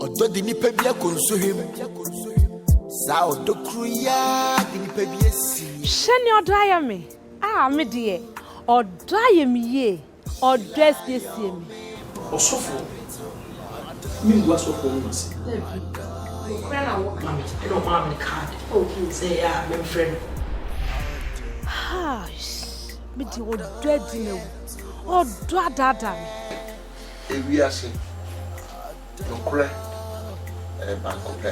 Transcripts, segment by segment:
Ɔdɔ de nipa bi akɔ nsuhwem. Saa ɔdɔ koro yi ara de nipa bi asi. Hwɛ nea ɔdɔ ayɛ me, ah me deɛ. Ɔdɔ ayɛ me yie, ɔdɔ asiesie me. Ɔsɔfoɔ, mengu asɔfoɔ nom ase. Dabi, nokorɛ na woka. Mami, ɛna ɔmaa me card sɛ ɛyɛ a memfrɛ no. Haash, me deɛ ɔdɔ adi m'awu, ɔdɔ adaadaa me. Ewiase nokorɛ yɛ baako pɛ.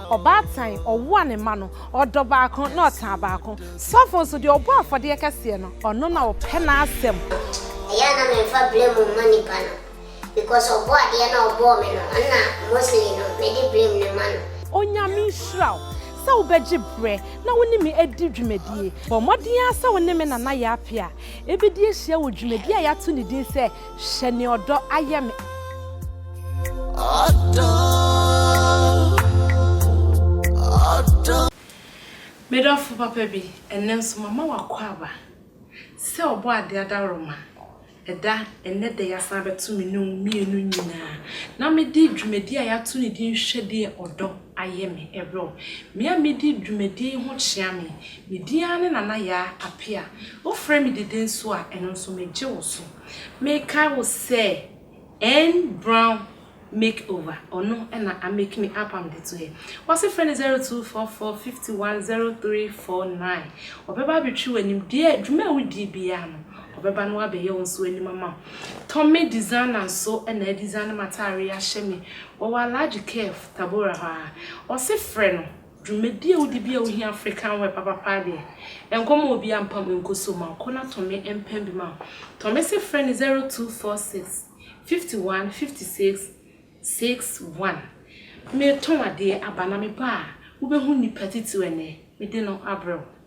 Ɔbaatan ɔwo a ne mma no, ɔdɔ baako na ɔtaa baako. Sɔfo nso, deɛ ɔbɔ afɔdeɛ kɛseɛ no, ɔno na ɔpɛ n'asɛm. Ɛyɛ a na menfa blame mma nnipa no because ɔbɔ adeɛ no a ɔbɔɔ me no ɛna mostly no mede blame no ma no. Onyame nhyira wo sɛ wobɛgye berɛ na wo ne me adi dwumadie. Bɔ mmɔden ara sɛ wo ne me nana yɛ apea. Yɛbɛdi ahyia wɔ dwumadi a yɛato ne din sɛ Hyɛ Nea Ɔdɔ Ayɛ Me. Ɔdɔ, ɔdɔ. Me dɔfo papa bi, ɛnnɛ nso mama w'akwaaba sɛ Ɔbɔadeɛ adaworoma da ɛnnɛ da yi asan abɛto me ne wo mmienu nyinaa na mede dwumadi a yɛato ne din Hwɛ Deɛ Ɔdɔ Ayɛ Me rebrɛ wo. Me a medi dwumadi yi ho kyea me Me din ara ne Nana Yaa Apea. Wofrɛ me Dede nso a, ɛno nso megye wo so. Mekae wo sɛ N Brown Make Over, ɔno na a make me up a mede to yɛ. W'ase frɛ no 0244510349. Ɔbɛba abɛtwi w'anim, deɛ dwuma a wodie biara no, ɔbɛba na wabɛyɛ wo nso anim ama wo. Tommy Designer nso na adesiane m'ataareɛ ahyɛ me, ɔwɔ Alhaji Kef, Tabora hɔ ara. Ɔse frɛ no Dwumadie a wodi bi a wohia African wear papapaa deɛ, nkɔ ma obiara mpam nkɔ so ma ɔkɔ na Tɔme mpam bi ma wo. Tɔme se frɛ no zero two four six, fifty one, fifty six, six one. Metɔn adeɛ, aba na meba a, wobɛhu nnipa titiriw ɛnnɛ, mede no abrɛ wo.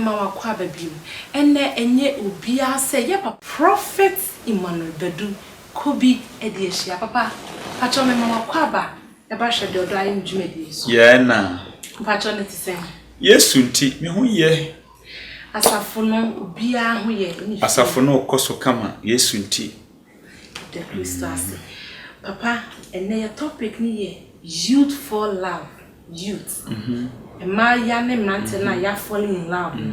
Mma wakɔ aba biom. Ɛnɛ ɛnyɛ obiaa sɛ yɛ papa. Prophet Emmanuel Badu kɔ bi ɛde ahyia. Papa pakyɛw me ma wakɔ aba ɛbra hwɛ deɛ ɔdɔ ayɛ me dwumadie so. Yɛɛ na. Mpakyɛw ne te sɛn. Yesu nti me ho yɛ. Asafo no obiaa ho yɛ. Asafo no kɔ so kama. Yesu nti Da Kristo ase. Papa, ɛnnɛ yɛ topic no yɛ youth fall love, youth, mmaayewa ne mmranteɛ no a yɛ a fall in love no,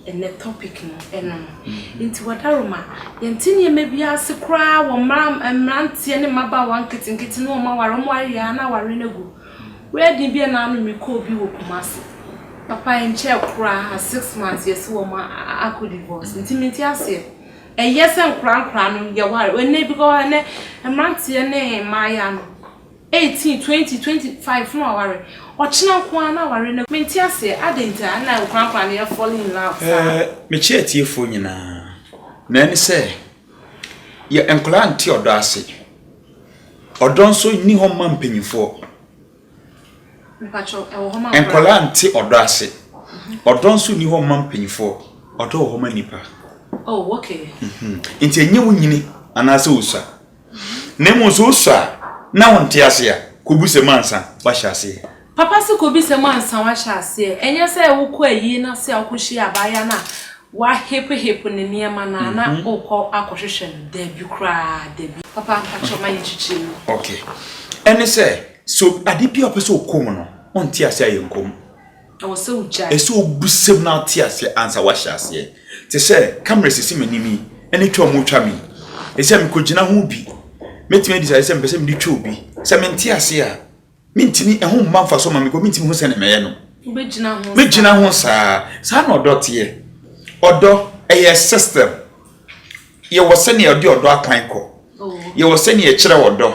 ɛnnɛ topic no ɛno no. Nti Wadaroma, yɛnte nneɛma bi ase koraa wɔ mmranteɛ ne mmabaawa nketenkete ne wɔn aware, wɔn awe a na aware no agu. Wedding bi a na ano mekɔɔ bi wɔ Kumasi. Papa ɛnkyɛɛ koraa, six months yɛse wɔn akɔ divorce. Nti mente aseɛ. Ɛyɛ sɛ nkorankora no yɛware wɔ nnɛ bikɔ ɛnɛ mmeranteɛ ne mmaayaa no eighteen twenty twenty five na waware ɔkyena nko ara na aware no. Mente aseɛ adɛn nti a na nkorankora no yɛ falling in love saa. Ɛɛ mekyia atiefoɔ nyinaa na ɛne sɛ yɛ nkwadaa nte ɔdɔ ase ɔdɔ nso nni hɔ mma mpanyinfoɔ. Nkwadaa nte ɔdɔ ase. Ɔdɔ nso nni hɔ mma mpanimfoɔ. Ɔdɔ wɔ hɔ ma nnipa. Nti ɛnyɛ wo nyini anaasɛ wo sua. Na mmom sɛ wo sua na wo nte ase a, kɔ bi sɛm ansa wahyɛ aseɛ. Papa se kɔ bi sɛm ansa wahyɛ aseɛ. Ɛnyɛ sɛ wo kɔ ayie no ase a wo kɔ hyia abaayewa no a Woahepehepe ne nneɛma no a na wokɔ akɔhwehwɛ no? Dabi koraa, dabi. Papa, mpakyɛ ma yɛn kyekyere mu. Ok. Ɛne sɛ, sɛ obi, ade bi a ɔpɛ sɛ ɔkɔ mu no, ɔnte aseɛ a yɛnkɔ mu. Ɛwɔ sɛ wogyae. Ɛsɛ wobisa mu na wote aseɛ ansa woahyɛ aseɛ. Te sɛ camera a ɛsisi m'anim yi, ɛne twa a wɔretwa me yi, ɛsɛ sɛ mekɔgyina ho bi. Mɛtumi adi saa, ɛsɛ sɛ mepɛ sɛ mede twa obi. Sɛ mente aseɛ a. mentumi ɛho mma mfaso ma me kɔ mentumi ho sɛ ne mɛyɛ no mɛgyina ho saa saa na ɔdɔ teɛ ɔdɔ ɛyɛ system yɛwɔ sɛnea ɔde ɔdɔ akwan kɔ oh. yɛwɔ sɛnea ɛkyerɛ ɔdɔ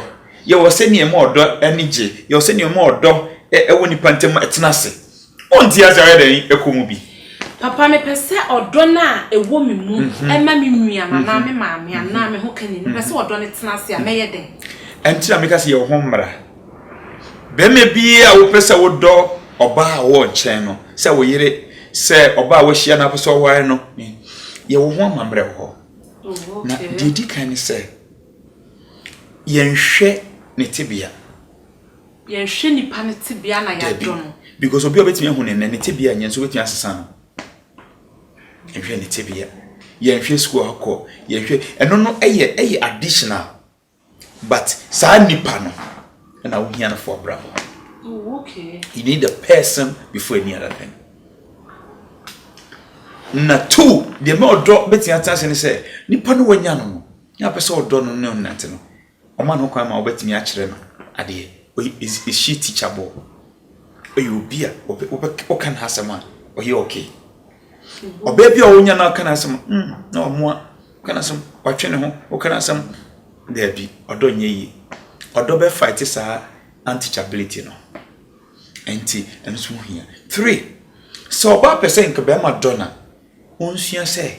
yɛwɔ sɛnea ɛma ɔdɔ ani gye yɛwɔ sɛnea ɛma ɔdɔ ɛwɔ nipa ntɛm ɛtena ase Wo nte ase a woyɛ dɛn kɔ mu bi? Papa, mepɛ sɛ ɔdɔ no a ɛwɔ me mu ma me nua no anaa me maame anaa me hokani no, mepɛ sɛ ɔdɔ no tena ase a, mɛyɛ dɛn? Ɛnti na meka sɛ yɛ wo ho mmara. Barima biara a wopɛ sɛ wodɔ ɔbaa a ɔwɔ nkyɛn no, sɛ wo yere, sɛ ɔbaa a woahyia no a wopɛ sɛ woware no, yɛ wo ho amammerɛ wɔ hɔ. Na deɛ ɛdi kan ne sɛ, yɛnhwɛ ne tebea. Yɛnhwɛ nipa no tebea na yɛadɔ no. Dabi, because obi a wobɛtumi ahu no nnɛ, ne tebea nyɛ nso wobɛtumi asesa no. Yɛnhwɛ ne tebea, yɛnhwɛ sukuu a ɔkɔ, yɛnhwɛ, ɛno no ɛyɛ ɛyɛ additional, but saa nipa no ɛna wohia no for abrabɔ. Oh, okay. You need the person before any other thing. Na two, deɛ mɛ ɔdɔ bɛtumi atena ase ne sɛ, nipa no wanya no no, na apɛ sɛ ɔdɔ no ne ɔnante no, Wɔma no kwan ma ɔbɛtumi akyerɛ no adeɛ. Ɔyɛ is is she teachable? Ɔyɛ obi a ɔbɛ ɔbɛ ɔka n'asɛm a ɔyɛ okay. Ɔbaa bi a ɔnya na ɔka n'asɛm mm na ɔmoa ɔka n'asɛm ɔtwe ne ho ɔka n'asɛm daabi ɔdɔ nyɛ yie. Ɔdɔ bɛ fight saa unteachability no. Nti ɛno nso ho hia. Three sɛ ɔbaa pɛ sɛ nka bɛrima dɔ no a. Onsua sɛ,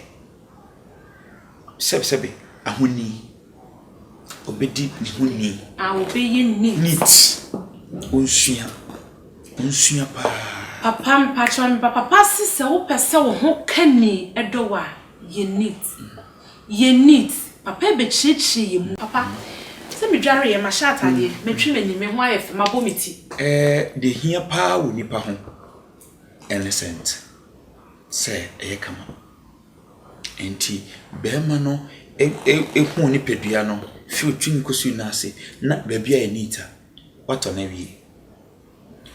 sɛbsɛbe ahoni, obedi ne ho ni. A obeye neat. Neat, onsua, onsua paa. Papa mpakyɛw me ba papa se sɛ wopɛ sɛ wo ho ka ni dɔ wo a yɛ neat yɛ neat papa ɛbɛkyerɛkyerɛ yɛ mu. Papa, sɛ me dwareɛ, mahyɛ ataadeɛ, matwi m'ani, me ho ayɛ fɛ, mabɔ me ti. Ɛɛ deɛ ɛhia paa wɔ nipa ho ɛne sɛnt. sɛ ɛyɛ kama. Enti barima no huu nipadua no fi ne tirim kɔsi ne nan ase na baabi ayɛ neat a, watɔ no awie.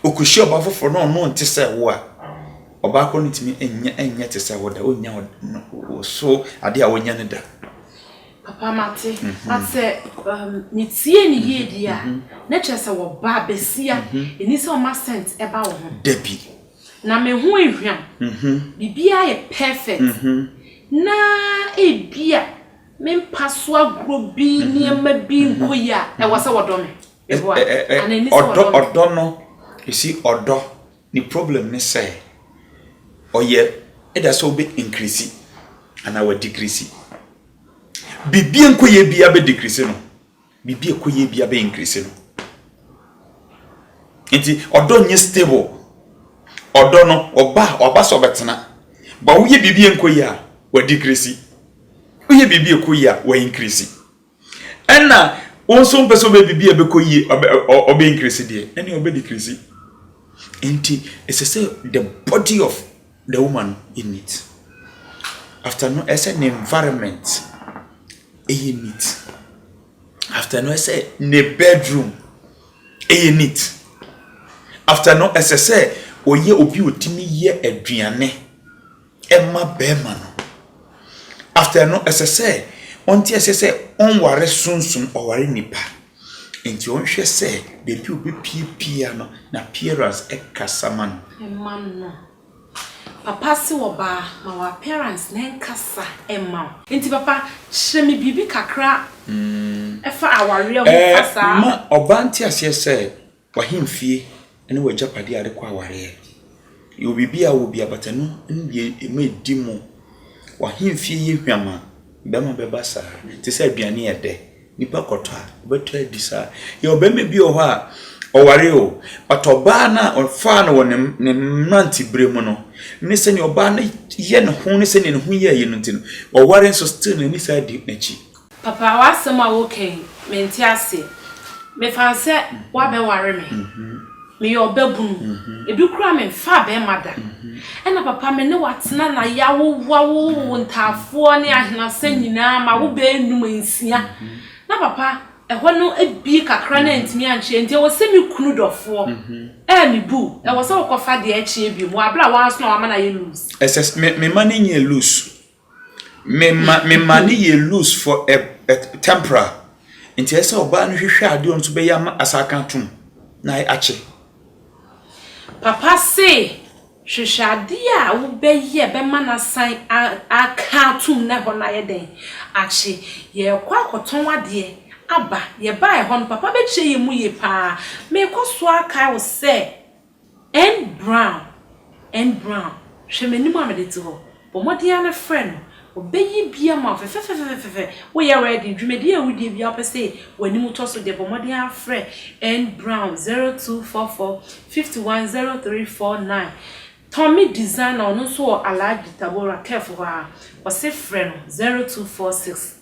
Ɔkɔhyia ɔbaa foforɔ na ɔno nte sɛ wo a, ɔbaa korɔ no ntumi nyɛ nyɛ te sɛ wo da, ɔnnya wo so adeɛ a wonya no da. Papa mate, mhm. but sɛ um, metie ne yie mhm. deɛ a, mhm. na kyerɛ sɛ wɔba bɛsia, ɛni sɛ ɔma sent ɛba wo ho. Dabi. Na me ho ahwam. Biribiara yɛ pɛfɛt. Na ebia me mpa so agorɔ bi, nneɛma bi nkɔ yie a, ɛwɔ sɛ wɔdɔ me. Meboa? Anaa ɛnni sɛ wɔdɔ me? Ɔdɔ no, you see, ɔdɔ, ne problem ne sɛ, ɔyɛ either sɛ wobɛ increase anaa wa decrease. Biribi nkɔ yie biara bɛ decrease no. Biribi a ɛkɔ yie biara bɛ increase no. Nti ɔdɔ nyɛ stable. Ɔdɔ no ɔba a ɔba sɛ ɔbɛtena. Ba woyɛ biribi a ɛnkɔ yie a wa decrease. Woyɛ biribi a ɛkɔ yie a wa increase. Ɛna wo nso wompɛ sɛ wobɛ biribi a ɛbɛkɔ yie ɔbɛ increase deɛ ɛne ɔbɛ decrease. Nti ɛsɛ sɛ the body of the woman no yɛ neat after no ɛsɛ ne environment ɛyɛ neat after no ɛsɛ ne bedroom ɛyɛ neat after no ɛsɛ sɛ ɔyɛ obi ɔtumi yɛ aduane ɛma bɛrima no after no ɛsɛ sɛ ɔnte ɛsɛ sɛ ɔnware sunsum ɔware nipa. Enti ɔnhwɛ sɛ baabi a obepue biara no, n'appearance kasa ma no. Mma no. Papa se ɔbaa, ma w'appearance na ɛnkasa mma wo. Enti papa, kyerɛ me biribi kakra fa awareɛ ho fa saa. Mma ɔbaa nte aseɛ sɛ W'ahemfie ne w'agyapadeɛ a wode kɔ awareɛ. Yɛwɔ biribi a wowɔ bi a, bata no ne deɛ ɛma ɛdi mu. W'ahemfie yɛ hwam a, bɛrima bɛba saa. Te sɛ aduane a ɛdɛ, nnipa kɔtɔ a, wobɛtɔ adi saa. Yɛwɔ bɛrima bi wɔ hɔ a, ɔwaree o, but ɔbaa no a ɔfaa no wɔ ne mmeranteberɛ mu no ne sɛdeɛ ɔbaa no yɛ ne ho ne sɛdeɛ ne ho yɛ yɛ no nti no, waware nso still n'ani san di n'akyi. Papa w'asɛm a woka yi mente aseɛ. Mefa no sɛ woabɛware me. Meyɛ ɔbabunu. Ebi koraa memfaa bɛrima da. Ɛna papa me ne wo atena na yɛawowo awowo wo ntaafoɔ ne ahenasa nyinaa ma wo baanum nsia. Na papa ɛhɔ no abue kakra na antumi ankyerɛ nti ɛwɔ sɛ me kunu dɔfoɔ a mebu wo ɛwɔ sɛ wokɔfa deɛ ɛkyeɛ biom wɔ aberɛ a wo ara nso na wama no ayɛ loose. Ɛsɛ me mma no nyɛ loose Mema mema no yɛ loose for a a temporal nti ɛsɛ sɛ ɔbaa no hwehwɛ adeɛ ɔno nso bɛyɛ ama asa aka atom na akye. Papa se hwehwɛ adeɛ a wobɛyɛ bɛma no asan a aka atom na ɛhɔ no ayɛ dɛn? akye. Yɛrekɔ akɔtɔn adeɛ aba, yɛbaeɛ hɔ no papa bɛkyerɛ yɛn mu yie paa. Merekɔ so akae wo sɛ. N. Brown, N. Brown, hwɛ m'anim a mede te hɔ. Bɔ mmɔden ara na frɛ no. Ɔbɛyɛ bi ama wo fɛfɛfɛfɛfɛfɛ. Woyɛ ready? Dwumadie a wodie biara wopɛ sɛ w'anim tɔ so deɛ, bɔ mmɔden ara frɛ N. Brown, 0244 51 0349. Tommy Designer, ɔno nso wɔ Alhaji Tabora, Kef hɔ ara. Ɔse frɛ no, 0246.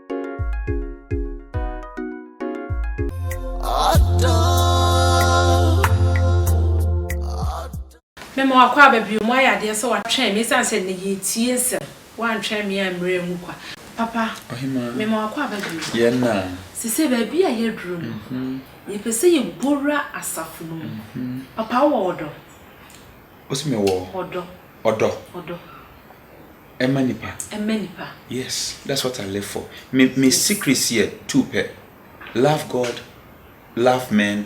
Mema wakɔ aba bio, moayɛ adeɛ sɛ watwɛn me ɛsiane sɛ nnɛ yɛretie nsɛm, woantwɛn me ammrɛ angu kwa. Papa, mema wakɔ aba bio, sesei baabi a yɛaduru no, yɛpɛ sɛ yɛbɔwura asafo no mu. Papa, wowɔ ɔdɔ? Wose mewɔ ɔdɔ? Ɔdɔ. Ɛmma nipa. Ɛmma nipa. Yes, that's what I live for. Me me secrets yɛ two pɛ. Love God, love men.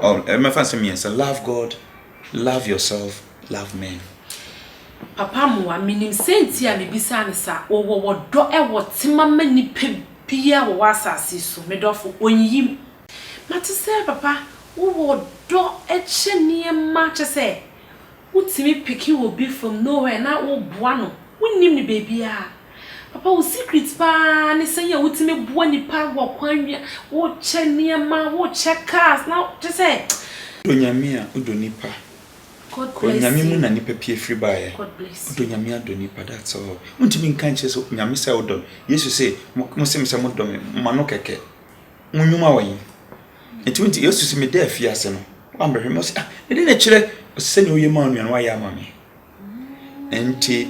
Oh, ɛmɛfa nsɛm mmiɛnsa. Love God, love yourself, love men. Papa mmoa me nim sɛnti a me bisaa no saa o wɔ wɔ dɔ wɔ tema ma nipa biaa wɔ wɔ asase yi so me dɔfo onyiyim. Mate sɛ papa wo wɔ dɔ kyɛ nneɛma kyɛ sɛ Wotumi piki wɔ bi from nowhere na wo boa no wonnim no baabiaa papa wo secret paa ne sɛ yɛ wotumi boa nipa wɔ kwan wia wo kyɛ nneɛma wo kyɛ cars na kyɛ sɛ. Wodɔ nyame a wodɔ nipa God kɔ bless nyame mu you na nipa pie firi baeɛ God bless wodɔ you. nyame adɔ nipa that's all wontumi nka nkyerɛ sɛ nyame sɛ wodɔ no yesu se mo se me sɛ modɔ me ma no kɛkɛ. Wo nnwuma wɔ he? Nti wonte Yesu se meda afiase no, woammɛhwɛ me? Ɔse, ah, ɛde na ɛkyerɛ, ɔse sɛnea woyɛ maa onua no woayɛ ama me. Nti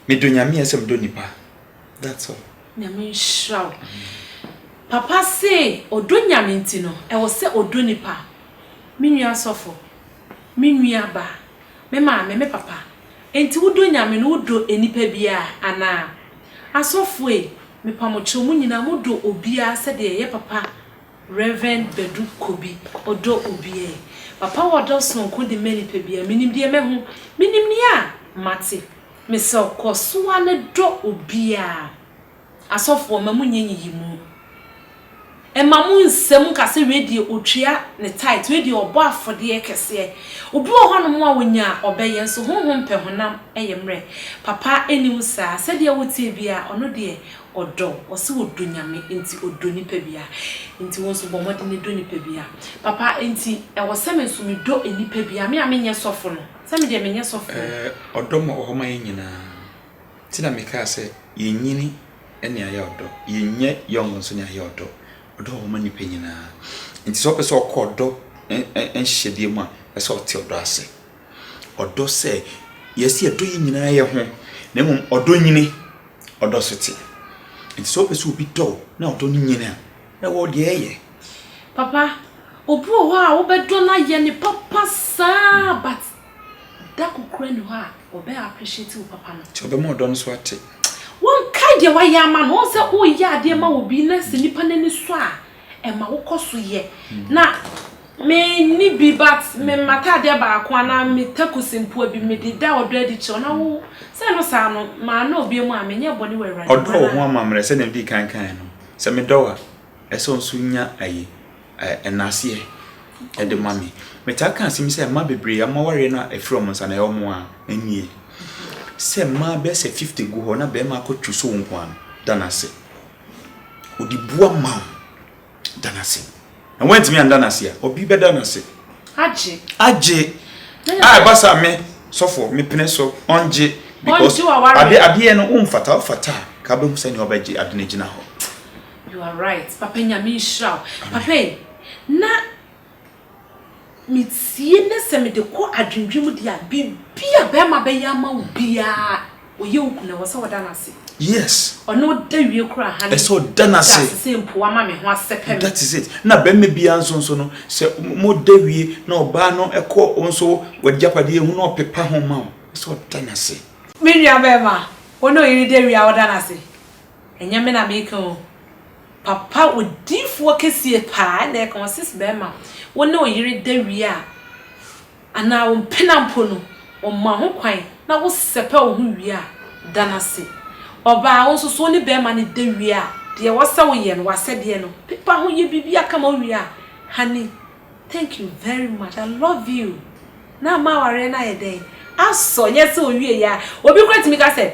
medɔ Nyame ɛsɛ medɔ nipa. That's all. Nyame nhyira wo. Papa se ɔdɔ Nyame nti no, ɛwɔ sɛ ɔdɔ nipa. Me nua sɔfo, me nua ba, me maame, me papa, nti wodɔ Nyame no wodɔ nnipa biaa anaa? Asɔfoe, Mepa mo kyew mo nyinaa mo dɔ obiaa sɛdeɛ ɛyɛ papa Rev Badu Kobi ɔdɔ obiaa papa wɔ dɔ sononko de ma nipa biaa menim deɛ mɛho menim nea mate mesrɛw kɔ soa ne dɔ obiaa asɔfoɔ ma mo nyɛ nyiyimu. Mma mo nsam nka sɛ wei deɛ ɔtua ne tithe, wei deɛ ɔbɔ afɔdeɛ kɛseɛ. Obi wɔ hɔnom a ɔnya a ɔbɛyɛ nso honhom pɛ honam yɛ mmerɛ. Papa nni wo saa, sɛdeɛ woteɛ biara ɔno deɛ ɔdɔ, ɔse ɔdɔ Nyame nti ɔdɔ nipa biara. Nti wo nso bɔ mmɔden dɔ nipa biara. Papa nti ɛwɔ sɛ me nso medɔ nipa biara, me a menyɛ sɔfo no, sɛ me deɛ menyɛ sɔfo o. Ɔdɔ ma wɔ hɔ ma yɛn nyinaa. Nti na mekaa sɛ, Yɛnyini ne ayɛ ɔdɔ, yɛnyɛ young nso ne ayɛ ɔdɔ. Ɔdɔ wɔ hɔ ma nnipa nyinaa. Nti sɛ ɔpɛ sɛ ɔkɔ ɔdɔ nhyehyɛdeɛ mu a, ɛsɛ sɛ ɔte ɔdɔ ase. Ɔdɔ sɛ, yes, yɛdɔ yɛn nyinaa yɛ ho, na mmom ɔdɔ nyini, ɔdɔ so te. Nti sɛ ɔpɛ sɛ obi dɔ wo na ɔdɔ no nyini a, na ɛwɔ deɛ ɛyɛ. Papa, obi wɔ hɔ a wobɛdɔ no ayɛ no papa saa but. Da kokoraa nni hɔ a ɔbɛ appreciate wo papa no. Nti ɔbɛma wo dɔ no so ate. Wonkae deɛ wayɛ ama no. Wohu sɛ woyɛ adeɛ ma obi na sɛ nipa no ani sɔ a, ɛma wokɔ so yɛ. Na me nni bi but me m'ataadeɛ baako anaa me takusi mpoa bi me de da ɔdɔ adi kyerɛ wo na wo sɛ ɛno saa no, maa no obiam a, menyɛɛ bɔne wɔ Awurade mu anaa? Ɔdɔ wo ho amammerɛ sɛdeɛ medii kan kaeɛ no. Sɛ medɔ wo a, Ɛsɛ ɔnso nya ayi ɛ nnaseɛ ɛde ma me. Metaa ka asem sɛ mma bebree ɔmo awareɛ no ɛfiri ɔmo nsa na ɛyɛ ɔmo a ɛnnie. Sɛ mmaa bɛyɛ sɛ fifty gu hɔ na bɛɛma akɔ twi so wo nkoaa no, da no ase. Ɔde bu ama wo, da no ase. Na woantumi anda no ase a, ɔbi bɛda no ase. Agye. Agye. A ɛba saa me sɔfoɔ me pene so ɔngye because Ɔngye w'awareɛ. ade adeɛ no womfata, wofata a ka wobɛhu sɛnea wobɛgye ade no agyina hɔ. You are right papa nyame nhyira wo papa yi na metie ne sɛ mede kɔ adwendwen mu deɛ biribi a bɛrima bɛyɛ ama wo biara ɔyɛ wo kuna wɔ sɛ ɔda no ase yes ɔno ɔda wie kora ha ne sɛ ɔda no ase sɛ mpo ama me ho asɛ pɛ that is it na bɛrima biara nso nso no sɛ moda wie na ɔbaa no ɛkɔ nso wagyapadeɛ hu na ɔpepa ho ma wo sɛ ɔda no ase me nua bɛrima ɔne ɔyere da wie a ɔda no ase Ɛnyɛ me na meka o. Papa odiyifoɔ kɛsie paa na ɛka ɔses bɛɛma wo ne wo yere da wie a anaa wo mpena mpo no ɔma ho kwan na wo sɛpɛ wo ho wie a da no ase ɔbaa wo nso so wo ne bɛɛma no da wie a deɛ ɛwɔ sɛ wo yɛ no w'asɛdeɛ no pepa ho yɛ biribi aka ma wo wie a honey thank you very much I love you na ama awareɛ no ayɛ dɛn asɔ nyɛ sɛ owie yɛ a obi kora tumi ka sɛ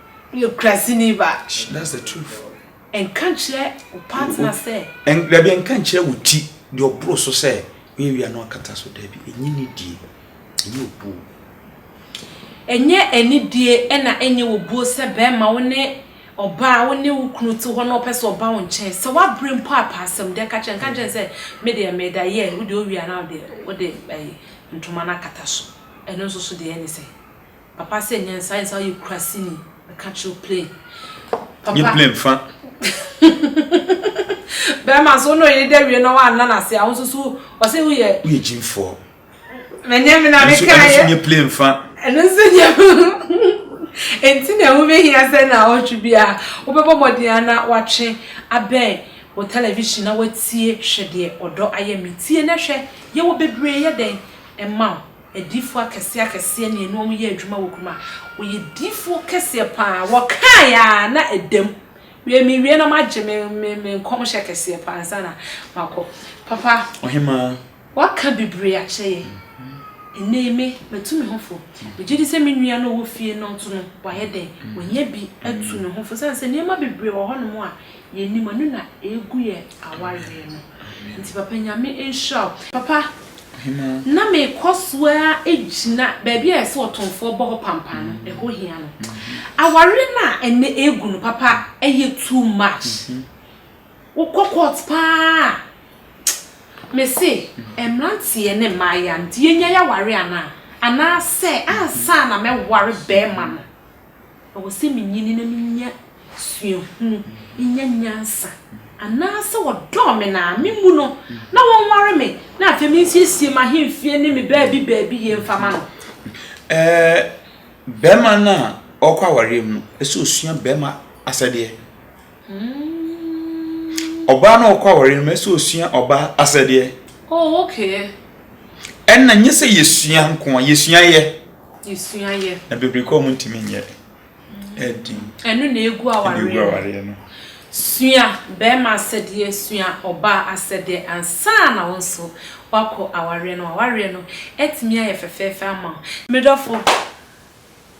Nokorɛsini ba. Shh that's the truth. Nka nkyerɛ wo partner sɛ. Dabi nka nkyerɛ wo ti deɛ ɔboro so sɛ woyɛ wia na wakata so dabi ɛnyɛ nidie ɛnyɛ obuo. Ɛnyɛ anidie ɛna ɛnyɛ obuo sɛ bɛɛma wo ne ɔbaa wo ne wo kunu te hɔ na ɔpɛ sɛ ɔba wo nkyɛn sɛ wabre mpo a pɛ asɛm deɛ ka kyerɛ nka nkyerɛ no sɛ me deɛ meda yɛ wo deɛ wo wia na wo deɛ wode ɛyi ntoma no akata so ɛno nso so deɛ ɛne sɛ Papa sɛ nyansa ayɛ saa ɔyɛ kurasini ɛka kyerɛ plane papa nye plane fa bɛrima so na ɔyɛ dɛ wie na wɔanna no ase a wo nso so ɔsɛ woyɛ woyɛ gyimfoɔ manyɛ me na meka yɛ ɛno nye plane fa ɛno nso nye enti na ɛho bɛhia sɛ na ɔtwe bi a wobɛbɔ mmɔden a na watwe abɛn wɔ television na watie hwɛ deɛ ɔdɔ ayɛ me tie na hwɛ yɛwɔ bebree yɛ dɛn ɛma wo Adiyifoɔ akɛseɛ akɛseɛ ne ɛne wɔn yɛɛ adwuma wɔ kurom a, wɔyɛ diyifoɔ kɛseɛ pa ara. Wɔkaeɛ ara na ɛda mu. Wiɛ, mewie na moagye me me me nkɔmhyɛ kɛseɛ pa ara ansa na makɔ. Papa, Ɔhemaa. woaka bebree akyerɛ yɛn. Ɛnnɛ yi me, matu me ho fo. Megye di sɛ me nua no a ɔwɔ fie no nso no, wayɛ dɛn? Wanya bi atu ne ho fo, ɛsiane sɛ nneɛma bebree wɔ hɔnom a yɛn anim ɛno na ɛgu yɛn awareɛ no nti papa nyame nhyira wo. Papa na mekɔ so ara gyina baabi a yɛsɛ ɔtomfoɔ bɔ hɔ pampan no ɛhɔ hia no awareɛ no a ɛnɛ ɛgu no papa ɛyɛ too much wokɔ court paa a mese mmeranteɛ ne mmaayewa no nti yɛnya yɛawareɛ anaa anaasɛ ansa na mɛware bɛrima no. Ɔwɔ sɛ minyini na minya suahu, minya nyansa, anaasɛ wɔdɔ me na me mu no na wɔnware me na afei minsiesie m'ahemfie ne me baabi baabi yie mfa ma no? Ɛɛ, barima no a ɔrekɔ awareɛ mu no, ɛsɛ ɔsua barima asɛdeɛ. Ɔbaa no a ɔrekɔ awareɛ no mu, ɛsɛ ɔsua ɔbaa asɛdeɛ. Oh, okay. Ɛnna nyɛ sɛ yɛsua nko a, yɛsua yɛ. Yɛsua yɛ. Na bebree kɔn mu ntumi nyɛ den. Ɛno na egu awareɛ no. Sua barima asɛdeɛ, sua ɔbaa asɛdeɛ ansa na wo nso woakɔ awareɛ no. W'awareɛ no atumi ayɛ fɛfɛɛfɛ ama wo. Me dɔfo,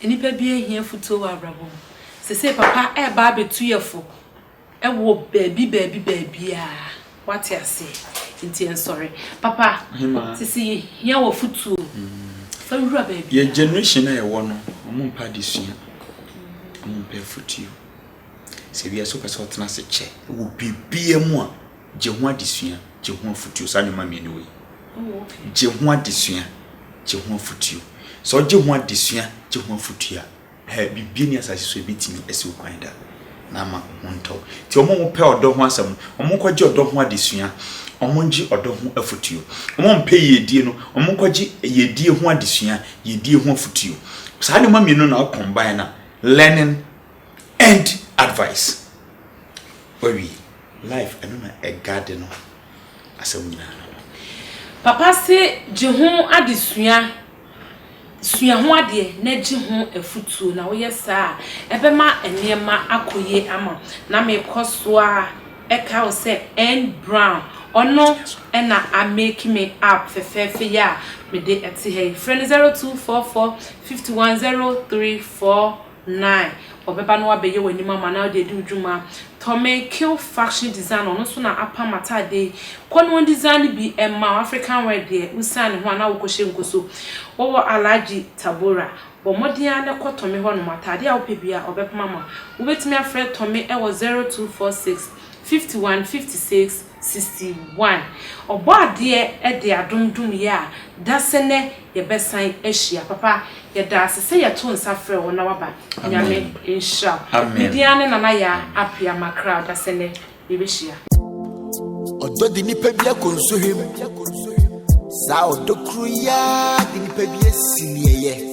nnipa bi ahia afutuo wɔ abrabɔ mu. Seesei papa ɛreba abɛtu yɛ fo. Wɔ baabi baabi baabiaa wate aseɛ nti ɛnsɔre papa Hemaa. sese yɛhia wafotuo fa wura baabi Yɛ a. generation a yɛwɔ no ɔmo mpɛ adesua ɔmo mpɛ afotuo sɛ wiase wopɛ sɛ wotena ase kyɛ wɔ biribiaa mu a gye ho adesua gye ho afotuo saa nneɛma mmienu wei Oh ok. gye ho adesua gye ho afotuo sɛ wogye ho adesua gye ho afotuo a Hɛ, biribi nni asase so a ebetumi asi wo kwan da na ama wo ho ntɔ wo. Enti wɔn a wɔpɛ ɔdɔ ho asɛm no, wɔnkɔgye ɔdɔ ho adesua, wɔngye ɔdɔ ho afotuo. Wɔn a wɔmpɛ yiedie no, wɔnkɔgye yiedie ho adesua, yiedie ho afotuo. Saa nneɛma mmienu na combine na learning and advice. Wawie. Life, ɛno na ɛguarde no. Asɛm nyinaa no no. Papa se gye ho adesua. Sua ho adeɛ na gye ho afotuo, na woyɛ saa a, ɛbɛma nneɛma akɔ yie ama wo. Na mekɔ so ara kae wo sɛ N. Brown, ɔno na a make me app fɛfɛɛfɛ yi a mede te ha yi. Frɛ no 0244 51 03 Nine, Ɔbɛba na wabɛyɛ w'anim ama na wode adi wo dwuma. Tommy Kill Faction Design ɔno nso na apam ataade yi. Kɔ na ɔndesiane bi mma wo, African wear deɛ wosiane ne ho a na wokɔhyɛ ngu so. Wowɔ Alhaji Tabora. Bɔ mmɔden ara na kɔ Tommy hɔnom, ataade a wopɛ biara ɔbɛpam ama wo. Wobɛtumi afrɛ Tommy wɔ zero two four six, fifty one, fifty six, sixty one. Ɔbɔadeɛ de adom dom yɛ a, dasɛnɛ. yɛbɛsan ahyia papa yɛdaase sɛ yɛto nsa frɛ wo na waba nyame nhyira wo me din ara ne nana yaa apia makra ɔdasɛ nɛ yɛbɛhyia. Ɔdɔ de nipa bi akɔ nsohwem saa ɔdɔ kuru yi ara de nipa bi asi neɛyɛ.